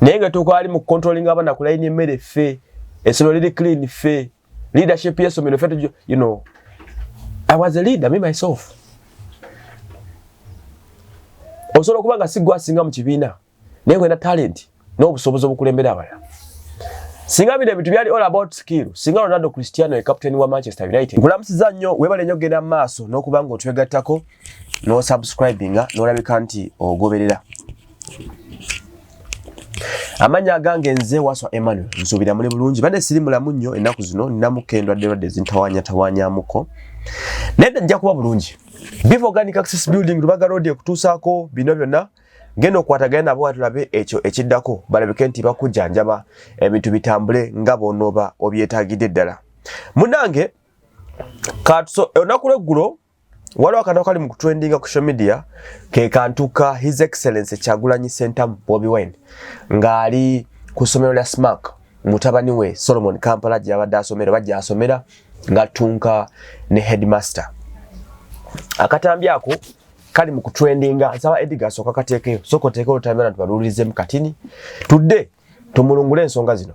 naye nga tukaali mu controlling abana ku line emmere ffe esomero liri clean ffe leadership yesomero ffe you know i was a leader me myself osobola okuba nga sigwa asinga mu kibiina naye wena talent n'obusobozi obukulembera abalala singa bino ebintu byali all about skill singa ronaldo cristiano e captain wa manchester united nkulamusiza nnyo webale nnyo kugenda mu maaso n'okuba nga otwegattako n'osubscribinga n'olabika nti ogoberera Amanya agange nze waswa Emmanuel nsuubira muli bulungi bade siri mulamu nnyo ennaku zino ninamuko endwadde lwadde zintawanya tawanyamuko naye nja kuba bulungi Biv Organic Access Building Lubaga Road ekutuusaako bino byonna genda okwatagana nabo watulabe ekyo ekiddako balabike nti bakujjanjaba ebintu bitambule nga bw'onooba obyetaagidde ddala munange olunaku lw'eggulo Waliwo akantu akali mu kutrendinga ku social media ke kantu ka His Excellency Kyagulanyi Ssentamu Bobi Wine ng'ali ku ssomero lya Smack mutabani we Solomon Kampala gye yabadde asomera bajja asomera ng'attunka ne headmaster. Akatambi ako kali mu kutrendinga nsaba Edgar asooka kateekeyo sooka oteekeyo olutambira nti baluwulirizemu katini tudde tumulungule ensonga zino.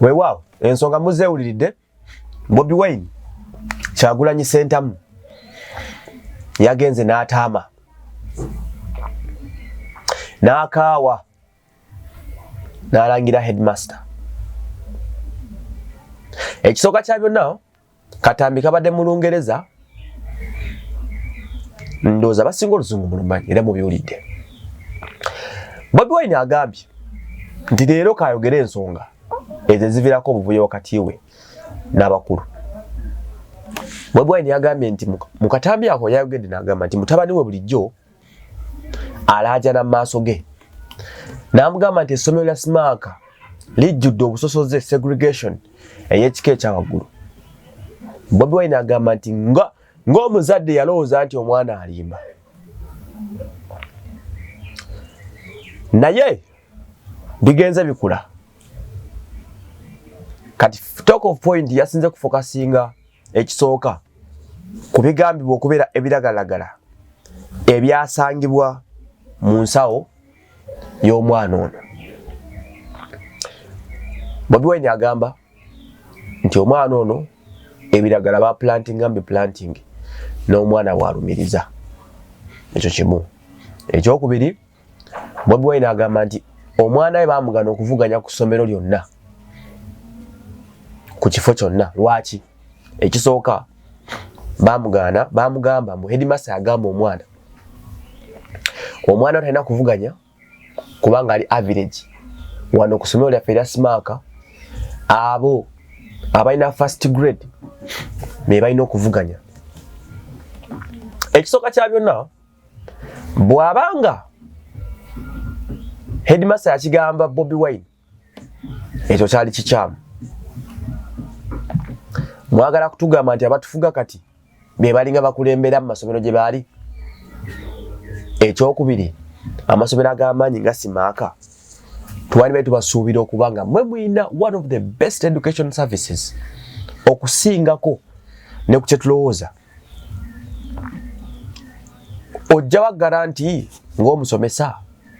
weewaawo ensonga muzeewuliridde bobi wine kyagulanyi sentamu yagenze n'ataama n'akaawa n'alangira headmaster ekisooka kya byonna Katambi kabadde mu Lungereza, ndooza basinga oluzungu mulumanyi era mubiwulidde. Bobi Wine agambye nti leero kayogere ensonga ezo ezivirako obuvuyo wakati we n'abakulu. Bobi Wine yagambye nti mu katambi ako yayogedde n'agamba nti mutabani we bulijjo alaajana mu maaso ge n'amugamba nti essomero lya simaaka lijjudde obusosoze segregation ey'ekika ekya waggulu bobi wine agamba nti nga ng'omuzadde yalowooza nti omwana alimba naye bigenze bikula kati talk of point yasinze kufokasinga ekisooka ku bigambibwa okubeera ebiragalagala ebyasangibwa mu nsawo y'omwana ono bobi wine agamba nti omwana ono ebiragala ba planting ambi planting n'omwana bwalumiriza ekyo kimu ekyokubiri Bobi Wine agamba nti omwana we baamugana okuvuganya ku ssomero lyonna ku kifo kyonna lwaki ekisooka baamugaana baamugamba mbu hedimasa yagamba omwana omwana talina kuvuganya kubanga ali average wano ku ssomero lyaffe erya simaaka abo abalina first grade be balina okuvuganya ekisooka kya byonna bw'aba nga headmaster yakigamba bobi wine ekyo kyali kikyamu mwagala kutugamba nti abatufuga kati be balinga bakulembera mu masomero gye baali ekyokubiri amasomero ag'amaanyi nga simaaka twali bali tubasuubira okuba nga mwe mulina one of the best education services okusingako ne ku kyetulowooza ojjawa garanti ng'omusomesa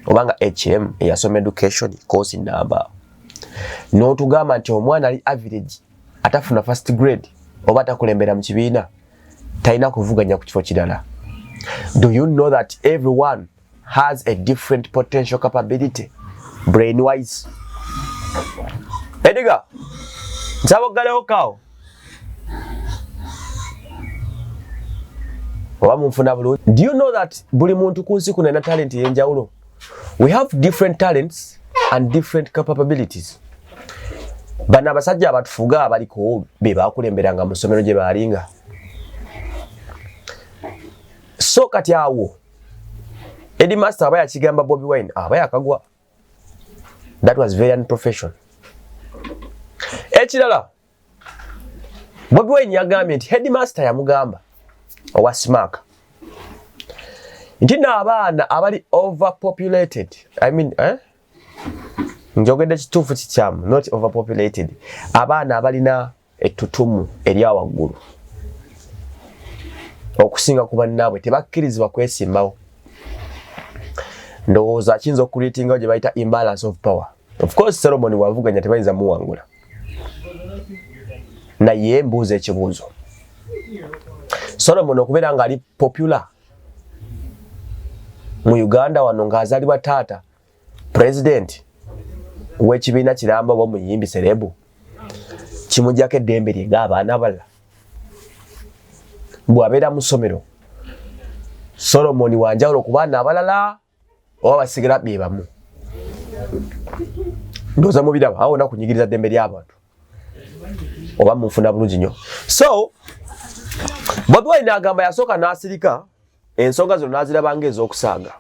oba nga hm eyasoma education course namba n'otugamba nti omwana ali average atafuna first grade oba atakulembera mu kibiina talina kuvuganya ku kifo kirala do you know that everyone has a different potential capability brain wise ediga nsaba oggalewo kawo oba munfuna bulungi do you know that buli muntu ku nsi kuno alina talenti eyenjawulo we have different talents and different capabilities bano abasajja abatufuga abaliko be bakulemberanga mu ssomero gye baalinga so kati awo Eddie Master aba yakigamba Bobby Wine aba yakagwa. That was very unprofessional. Ekirala Bobby Wine yagambye nti headmaster yamugamba owa Smack nti n'abaana abali overpopulated I mean, eh? njogedde kituufu kikyamu not overpopulated abaana abalina ettutumu erya waggulu okusinga ku bannaabwe tebakkirizibwa kwesimbawo ndowooza akiyinza okukuleetingawo gye bayita imbalance of power of course solomoni wavuganya tebayinza muwangula naye mbuuza ekibuuzo solomoni okubeera ng'ali popular mu uganda wano ng'azalibwa taata pulezidenti w'ekibiina kiramba oba omuyimbi serebu kimujjako eddembe lye ng'abaana abalala bw'abeera mu ssomero solomoni wanjawulo ku baana abalala oba basigala be bamu ndoza mubiraba awo na kunyigiriza ddembe ly'abantu oba munfuna bulungi nnyo so bobi wine agamba yasooka n'asirika ensonga zino n'aziraba ng'ez'okusaaga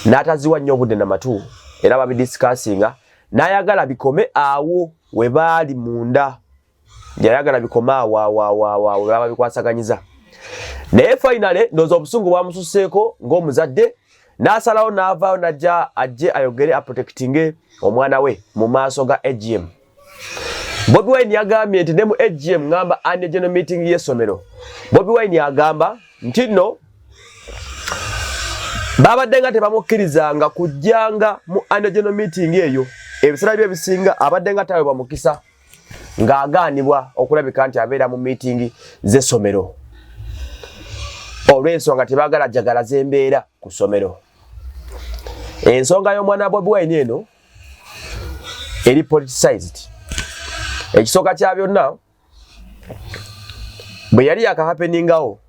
n'ataziwa nnyo obudde na matu era babidisikasinga n'ayagala bikome awo we baali munda yayagala bikome awo awoawoawo baba bikwasaganyiza naye fainale ndooza obusungu bwamususeeko ng'omuzadde n'asalawo n'avaayo n'ajja ajje ayogere aprotekitinge omwana we mu maaso ga agm Bobi Wine yagambye nti ne mu AGM ngamba anne general meeting y'essomero Bobi Wine yagamba nti nno babadde nga tebamukkirizanga kujjanga mu anne general meeting eyo ebiseera bye ebisinga abadde nga tawe bamukisa ng'agaanibwa okulabika nti abeera mu miitingi z'essomero olw'ensonga tebaagala jagala z'embeera ku ssomero ensonga y'omwana bobi wine eno eri politicized ekisooka kya byonna bwe yali yakahapeningawo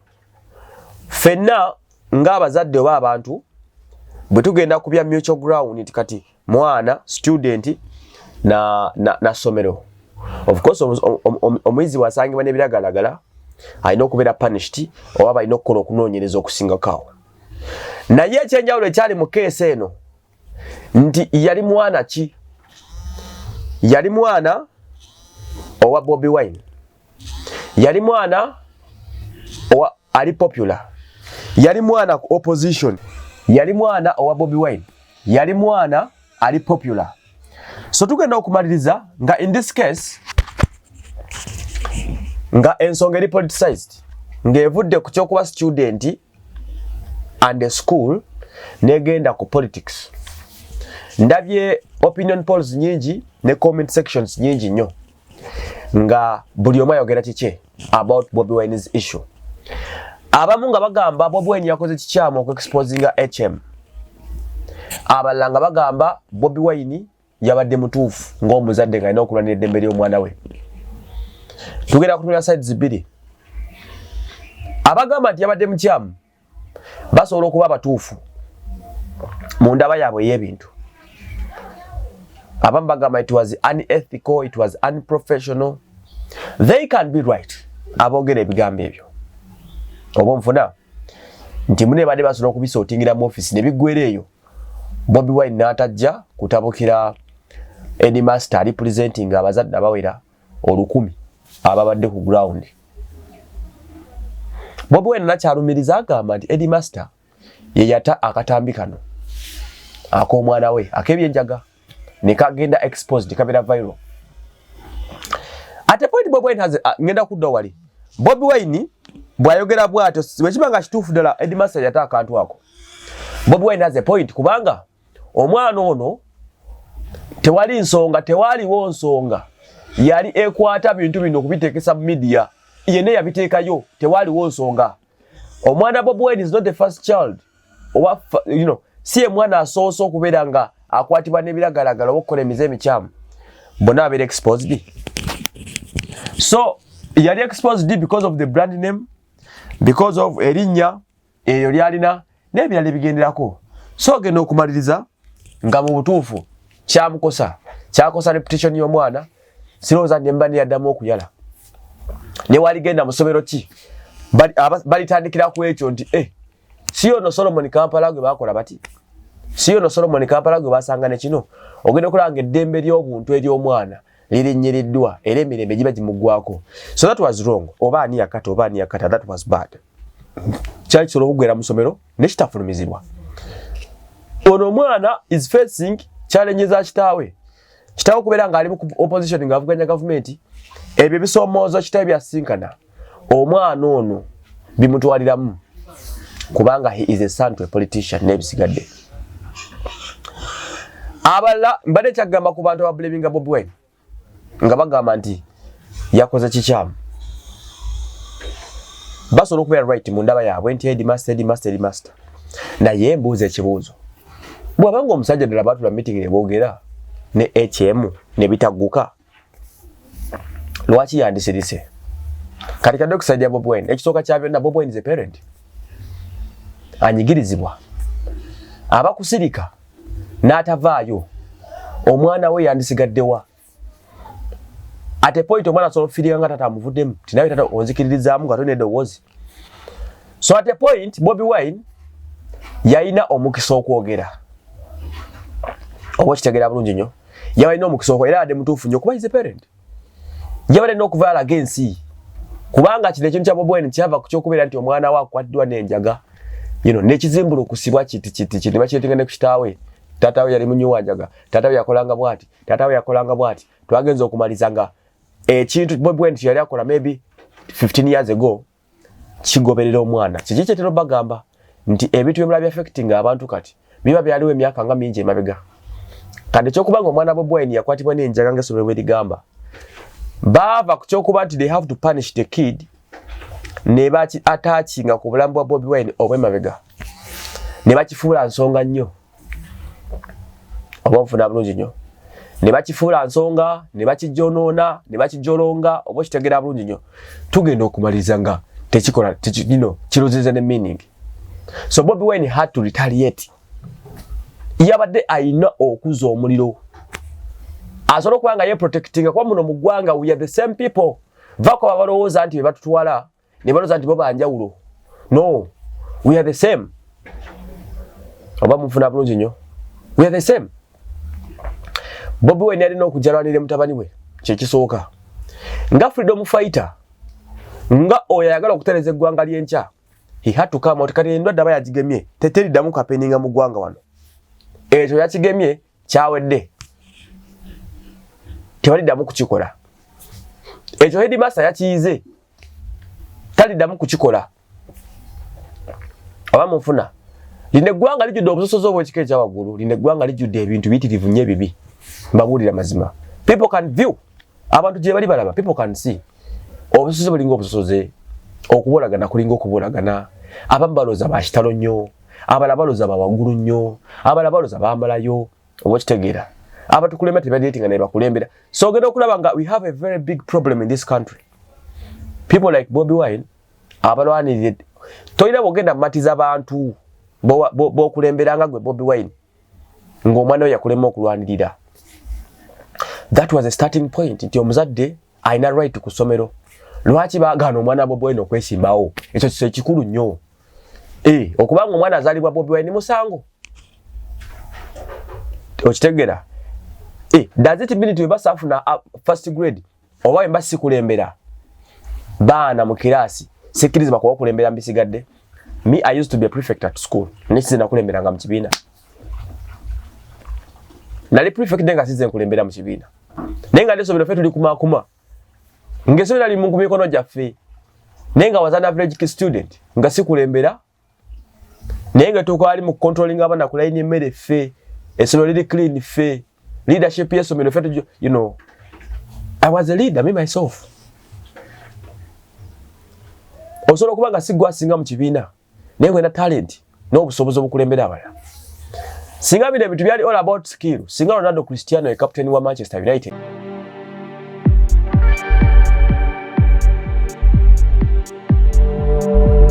fenna ng'abazadde oba abantu bwe tugenda ku bya mutual ground nti kati mwana student na, na, na somero of course omuyizi wasangibwa n'ebiragalagala alina okubeera punished oba balina okukola okunoonyereza okusingakaawo naye ekyenjawulo ekyali mu keesi eno nti yali mwana ki yali mwana owa bobi wine yali mwana owa ali popular yali mwana ku opposition yali mwana owa bobi wine yali mwana ali popular so tugenda okumaliriza nga in this case nga ensonga eri politicized ng'evudde ku kyokuba studenti and a school negenda ku politics ndabye opinion polls nyingi ne comment sections nyingi nyo nga buli omu ayogera kikye about Bobi Wine's issue abamu nga bagamba Bobi Wine yakoze kikyamu okuexposinga HM abalala nga bagamba Bobi Wine yabadde mutuufu ng'omuzadde nga alina okulwanira eddembe ly'omwana we tugenda kutunira sides bbiri abagamba nti yabadde mukyamu basobola okuba abatuufu mu ndaba yaabwe ey'ebintu abamu bagamba it was unethical it was unprofessional they can be right aboogera ebigambo ebyo oba onfuna nti mune baade basobola okubisootingira mu ofisi ne biggwera eyo Bobi Wine n'atajja kutabukira Eddie Master ali presenting abazadde abawera olukumi ababadde ku ground. Bobi Wine nakyalumiriza agamba nti Eddie Master ye yata akatambi kano ak'omwana we ak'ebyenjaga. nekagenda exposed kabera viral ate point bobi wine has uh, ngenda kudda wali bobi wine bwayogera bwatyo wekiba nga kituufu ddala edmaster yata akantu ako bobi wine has a point kubanga omwana ono tewali nsonga tewaliwo nsonga yali ekwata bintu bino okubiteekesa mu midiya yene yabiteekayo tewaliwo nsonga omwana bob wine is not the first child oba you know si emwana asoose okubeera nga akwatibwa nebiragalagala oba okukola emize emikyamu bona abeera exposed so yali exposed because of the brand name because of erinnya eyo lyalina n'ebirala ebigenderako so ogenda okumaliriza nga mu butuufu kyamukosa kyakosa reputation y'omwana sirowooza nemba neyaddamu okuyala newaligenda musomero ki balitandikira ku ekyo nti e si ono solomoni kampala gwe bakola bati si ono solomoni kampala gwe basanga nekino ogenda okulaba nga eddembe ly'obuntu ery'omwana lirinyiriddwa era emirembe giba gimugwako so that was wrong oba ani yakata oba ani yakata that was bad kyali kisobola okugwera mu somero nekitafulumizibwa ono omwana is facing challenge za kitaawe kitaawe okubeera ng'ali mu opposition ng'avuganya gavumenti ebyo ebisomoozo kitaawe byasinkana omwana ono bimutwaliramu kubanga he is a son to a politician n'ebisigadde abalala mbadde kyagamba ku bantu ababulaminga bobi wine nga bagamba nti yakoze kikyamu basobola okubeera right mu ndaba yaabwe nti edmaster edmaster edmaster naye mbuuza ekibuuzo bwabanga omusajja ddala batula meeting ne boogera ne hm ne bitagguka lwaki yandisirise kati kadde okusajja bob wine ekisooka kya byonna bob wine is a parent anyigirizibwa abakusirika n'atavaayo omwana we yandisigaddewa ate point omwana asobola okufirika nga tata amuvuddemu tinawe tata onzikiririzaamu nga tolina eddoboozi so ate point bobi wine yalina omukisa okwogera oba okitegera bulungi nnyo yabalina omukisa okuba era abadde mutuufu nnyo kuba is a parent yabadde alina okuva alaga ensi kubanga kino ekintu kya Bobi Wine kyava ku kyokubeera nti omwana we akwaddwa n'enjaga you know nekizimbula okusibwa kiti kiti kiti bakyetinga ne ku kitaawe taata we yali munyiwa njaga taata we yakolanga bwati taata we yakolanga bwati twagenza okumaliza nga ekintu Bobi Wine yali akola maybe 15 years ago kigoberera omwana kiki kyetera bagamba nti ebintu byemula biaffecting abantu kati biba byaliwo emyaka nga mingi emabega kati ekyokuba nga omwana bobwine yakwatibwa nenjaga nga esomero bwerigamba baava ku kyokuba nti they have to punish the kid nebaki atakinga ku bulamu bwa bobi wine obwemabega nebakifuula nsonga nnyo oba nfuna bulungi nnyo ne bakifuula nsonga ne bakijyonoona ne bakijolonga oba okitegera bulungi nnyo tugenda okumaliriza nga tekikola kino kirozeza ne meaning so bobi wine had to retaliate yabadde ayina okuza omuliro asobola okuba nga yeprotectinga kuba muno mu ggwanga we are the same people vakoba balowooza nti bebatutwala ne baloza nti bo banjawulo no we are the same oba mufuna bulungi nnyo we are the same bobi wine alina okujalwanira mutabani we kyekisooka nga freedom fighter nga oyo ayagala okutereza eggwanga lyenkya hihatukama otikati endwadde aba yagigemye teteriddamu kapeninga mu ggwanga wano ekyo yakigemye kyawedde tebaliddamu kukikola ekyo hedimasa yakiyize taliddamu kukikola oba munfuna lino eggwanga lijjudde obusosozi obwekika ekyawaggulu lino eggwanga lijjudde ebintu biyitirivu nyo ebibi mbabuulira mazima people can view abantu gye bali balaba people can see obusosoze bulinga obusosoze okubolagana kulinga okubolagana abamu balooza bakitalo nnyo abala baloza bawagulu nnyo abala baloza bamalayo oba okitegeera abatukulembera tebadiretinga naye bakulembera so ogenda okulaba nga we have a very big problem in this country people like bobi wine abalwanirire tolina bwogenda mumatiza bantu bokulembera nga gwe bobi wine ngaomwana we yakulema okulwanirira that was a starting point nti omuzadde alina right ku ssomero lwaki bagaana omwana bobi wine okwesimbawo ekyo kikulu nnyo Eh, okuba nga omwana azalibwa Bobi Wine musango. Okitegera? Eh, does it mean to be safu na uh, first grade? Oba emba sikulembera. Baana mu kirasi, sikiriza bakuwa kulembera mbisigadde. Me I used to be a prefect at school. Nisi na kulembera nga mkibina. Nali prefect denga size kulembera mkibina. Nenga leso bilofetu likuma kuma. kuma. nga esomero lali mu mikono gyaffe naye nga wazana average student nga sikulembera naye nga tukwali mu controlling abana kulaini emmere ffe esomero liri clean ffe leadership yesomero ffe you know i was a leader me myself osobola okuba nga sigwa asinga mu kibiina naye wena talent n'obusobozi obukulembera abalala singa bino ebintu byali all about skill singa ronaldo cristiano ye captain wa manchester united